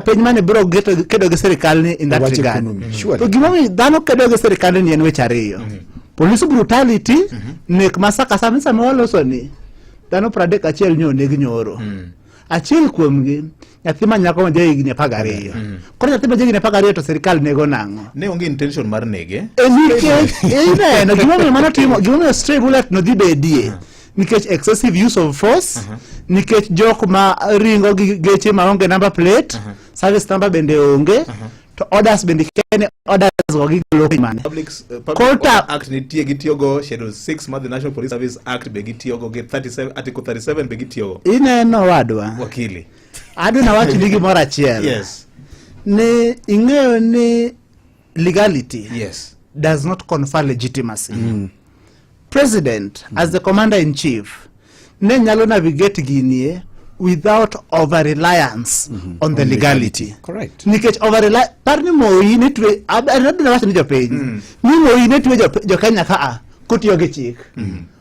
piny mane biro kedo gi sirikal ni in that regard mm-hmm. to gima mi dhano kedo gi sirikal ni en weche ariyo mm-hmm. police brutality mm-hmm. nek masaka sami sama waloso ni dhano pradek achiel nyo neg nyoro mm. achiel kuomgi nyathi ma nyako ma jahigni apar gariyo mm. koro nyathi ma jahigni apar gariyo to sirikal nego nang'o ne onge intention mar nege eh, nikech eh, ineno gimomiyo mano timo gimomiyo stray bullet nodhi bedie mm. nikech excessive use of force nikech jok ma ringo gi geche ma onge number plate service number bende onge to orders bende kene orders go gi golo piny mane Public, uh, public Kota- Order Act nitie gitiyogo Schedule 6 mar the National Police Service Act be gitiyogo gi 37 Article 37 be gitiyogo ineno wadwa wakili adwa nawachni gimoro achiel yes ni ing'eyo ni legality yes. does not confer legitimacy mm. president mm. as the commander in chief ne nyalo navigate ginie without over reliance mm -hmm. on the on legality. legality correct nikech over rely par ni moyi ni twe adadina wacho ni jopiny mm. ni moyi ni twe jokenya jo kaa kotiyo gi chik mm -hmm.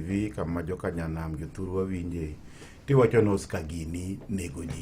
TV kama joka nyanam jothurwa winje tiwacho ni Oscar gini nego ji.